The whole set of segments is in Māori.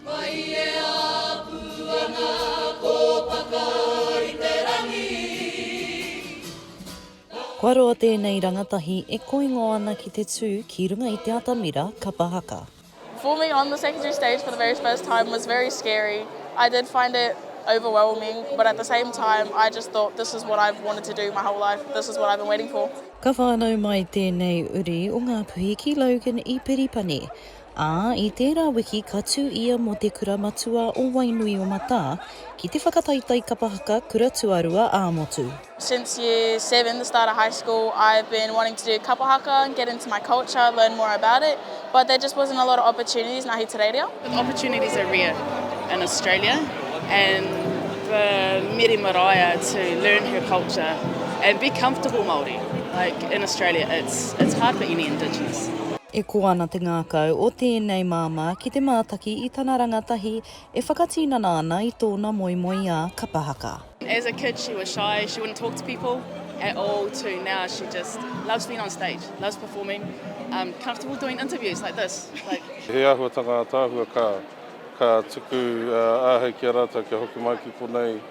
Mai e apu ana kōpaka i te rangi, Kua roa tēnei rangatahi e koingo ana ki te tū ki runga i te atamira kapa haka. Forming on the secondary stage for the very first time was very scary, I did find it overwhelming but at the same time I just thought this is what I've wanted to do my whole life, this is what I've been waiting for. Ka whānau mai tēnei uri o Ngāpuhi ki Logan i Piripani. ā, i tērā wiki ka tū ia mō te Kura Matua o Wainuiomata ki te whakataetae kapa haka kura tuarua ā-motu. Since year seven, the start of high school, I've been wanting to do kapa haka, get into my culture, learn more about it, but there just wasn't a lot of opportunities in Ahitereiria. The opportunities are rare in Australia and for Miri Maraea to learn her culture and be comfortable Māori, like in Australia it's hard for any Indigenous. E kō ana te ngākau o tēnei māmā ki te mātaki i tana rangatahi e whakatinana ana i tōna moemoeā kapa haka. As a kid she was shy, she wouldn't talk to people at all to now she just loves being on stage, loves performing, um comfortable doing interviews like this, like. He āhuatanga ataahua ka tuku āhei ki a rātou kia hoki mai ki konei.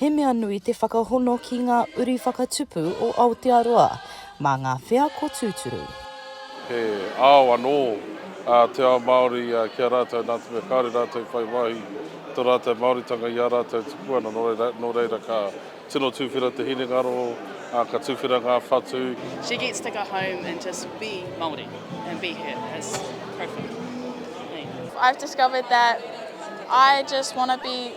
He mea nui te whakahono ki ngā uri whakatupu o Aotearoa mā ngā wheako tūturu. He ao anō ā te ao Māori ki a rātou nā te mea kāore rātou i whai wāhi i tō rātou Māoritanga i ā rātou tuku ana, nō reira, nō reira ka tino tuwhera te hinengaro, ā, ka tuwhera ngā whatu. She gets to go home and just be Māori and be her, it's perfect. I've discovered that I just want to be.